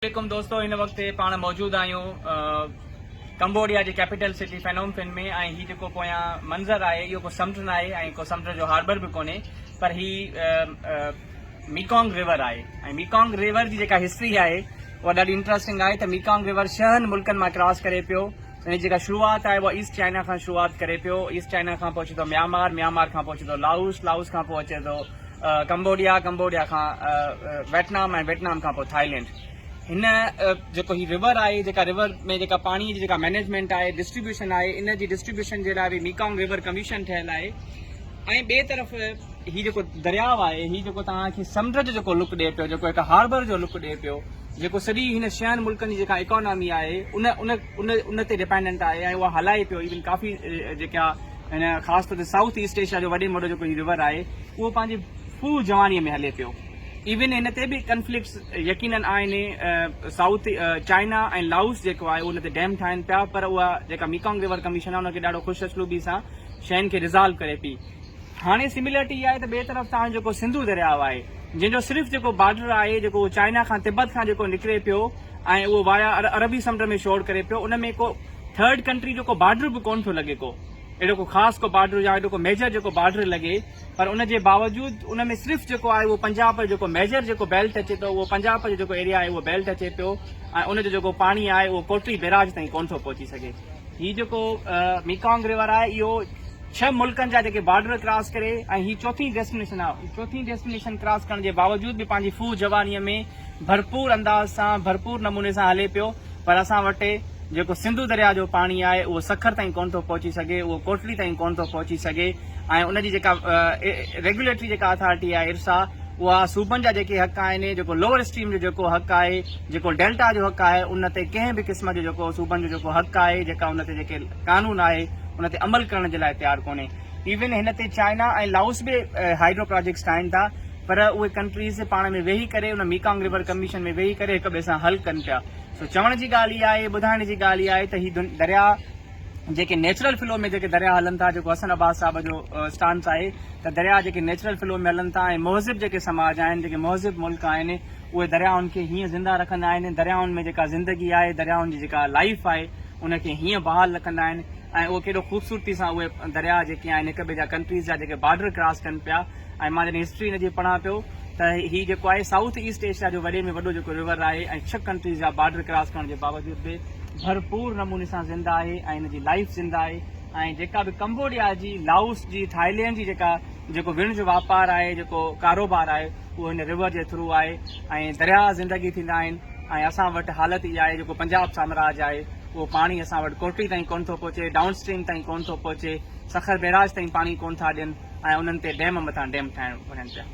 عليڪم دوستو هن وقت پاڻ موجود آهيون ڪمبوڊيا جي ڪيپيٽل سٽي فينوم فين ۾ ۽ هي جيڪو پويان منظر آهي اهو ڪو سمنڊ ناهي ۽ ڪو سمنڊ جو هاربر به ڪونهي پر هي ميڪانگ ريور آهي ۽ ميڪانگ ريور جي جيڪا هسٽري آهي اها ڏاڍي انٽرسٽنگ آهي ته ميڪانگ ريور شهن ملڪن مان ڪراس ڪري پيو ان جي جيڪا شروعات آهي اها ايسٽ چائنا کان شروعات ڪري پيو ايسٽ چائنا کان پوء اچي ٿو ميامار ميامار کان پوء اچي ٿو لائوس لائوس کان پوء اچي ٿو ڪمبوڊيا، ڪمبوڊيا کان ويٽنام ۽ ويٽنام کان پوء ٿائلينڊ. هن جيڪو هي رور آهي جيڪا رور ۾ جيڪا پاڻي جي جيڪا مينيجمينٽ آهي ڊسٽريبيوشن آهي ان جي ڊسٽريبيوشن جي لاء به ميڪانگ رور ڪميشن ٺهيل آهي ۽ ٻئي طرف هي جيڪو درياء آهي هي جيڪو توهان کي سمنڊ جو جيڪو لڪ ڏي پيو جيڪو هڪ هاربر جو لڪ ڏي پيو جيڪو سڄي هن شهن ملڪن جي جيڪا اڪانامي آهي ان ان ان ان تي ڊپينڊنٽ آهي ۽ اها هلائي پيو ايون ڪافي جيڪا ۽ خاص طور تي سائوٿ ايسٽ ايشيا جو وڏي ۾ وڏو جيڪو هي رور آهي اهو پنهنجي فل جوانيء ۾ هلي پيو. ايون هن تي به ڪنفلڪٽس يقينن آهن. سائوٿ چائنا ۽ لائوس جيڪو آهي اهو ان تي ڊيم ٺاهين پيا پر اها جيڪا ميڪانگ رور ڪميشن آهي ان کي ڏاڍو خوش اسلوبي سان شين کي ريزالو ڪري پئي. هاڻي سميلرٽي اها آهي ته ٻئي طرف تان جيڪو سنڌو درياء آهي جنهن جو صرف جيڪو بارڊر آهي جيڪو اهو چائنا کان تبت کان جيڪو نڪري پيو ۽ اهو وايا عربي سمنڊ ۾ شور ڪري پيو ان ۾ ڪو ٿرڊ ڪنٽري جو ڪو بارڊر به ڪون ٿو لڳي ڪو اهڙو ڪو خاص ڪو بارڊر يا اهڙو ڪو ميجر جيڪو بارڊر لڳي پر ان جي باوجود ان ۾ صرف جيڪو آهي اهو پنجاب جو جيڪو ميجر جيڪو بيلٽ اچي ٿو اهو پنجاب جو جيڪو ايريا آهي اهو بيلٽ اچي پيو ۽ ان جو جيڪو پاڻي آهي اهو ڪوٽري بيراج تائين ڪون ٿو پهچي سگهي هي جيڪو ميڪانگ ريور آهي اهو ڇهه ملڪن جا جيڪي بارڊر ڪراس ڪري ۽ هي چوٿين ڊيسٽينيشن آهي چوٿين ڊيسٽينيشن ڪراس ڪرڻ جي باوجود به پنهنجي فوج جوانيء ۾ ڀرپور انداز سان ڀرپور نموني سان هلي پيو پر اسان وٽ جيڪو سنڌو درياء جو پاڻي آهي اهو سکر تائين ڪونه ٿو پهچي سگهي، اهو ڪوٽڙي تائين ڪونه ٿو پهچي سگهي ۽ ان جي جيڪا ريگيوليٽري جيڪا اٿارٽي آهي ارسا اها صوبن جا جيڪي حق آهن، جيڪو لوور اسٽريم جو جيڪو حق آهي، جيڪو ڊيلٽا جو حق آهي ان تي ڪنهن به قسم جو جيڪو صوبن جو جيڪو حق آهي، جيڪا ان تي جيڪي قانون آهي ان تي عمل ڪرڻ جي لاء تيار ڪونهي. ايون هن تي چائنا ۽ لائوس به هائيڊرو پراجيڪٽس ٺاهين ٿا. پر اهي ڪنٽريز پاڻ ۾ ويهي ڪري ان ميڪانگ ريور ڪميشن ۾ ويهي ڪري هڪ ٻئي سان حل ڪن پيا سو چوڻ جي ڳالهه اها آهي ٻڌائڻ جي ڳالهه اها آهي ته هي دريا جيڪي نيچرل فلو ۾ جيڪي دريا هلن ٿا جيڪو حسن عباس صاحب جو اسٽانس آهي ته دريا جيڪي نيچرل فلو ۾ هلن ٿا ۽ مهذب جيڪي سماج آهن جيڪي مهذب ملڪ آهن اهي دريائن کي هيئن زنده رکندا آهن دريائن ۾ جيڪا زندگي آهي دريائن جي جيڪا لائف آهي ان کي هيئن بحال رکندا آهن ۽ اهو ڪيڏو خوبصورتي سان اهي دريا جيڪي آهن هڪ ٻئي جا ڪنٽريز جا جيڪي بارڊر ڪراس ڪن پيا ۽ مان جڏهن هسٽري هن جي پڙهان پيو ته هي جيڪو آهي سائوٿ ايسٽ ايشيا جو وڏي ۾ وڏو جيڪو رور آهي ۽ ڇهه ڪنٽريز جا بارڊر ڪراس ڪرڻ جي باوجود به ڀرپور نموني سان زنده آهي ۽ هن جي لائيف زنده آهي ۽ جيڪا به ڪمبوڊيا جي لائوس جي ٿائلينڊ جي جيڪا جيڪو وڻ جو واپار آهي جيڪو ڪاروبار آهي اهو هن رور جي ٿرو آهي ۽ درياء زندگي ٿيندا آهن ۽ اسان وٽ حالت اها آهي جيڪو پنجاب سامراج آهي اهو پاڻي اسان وٽ ڪوٽڙي تائين ڪونه ٿو پهچي ڊائون اسٽريم تائين ڪونه ٿو پهچي سکر بئراج تائين پاڻي ڪونه ٿا ڏين ۽ انهن تي ڊيم مٿان ڊيم ٺاهڻ وڃن پيا.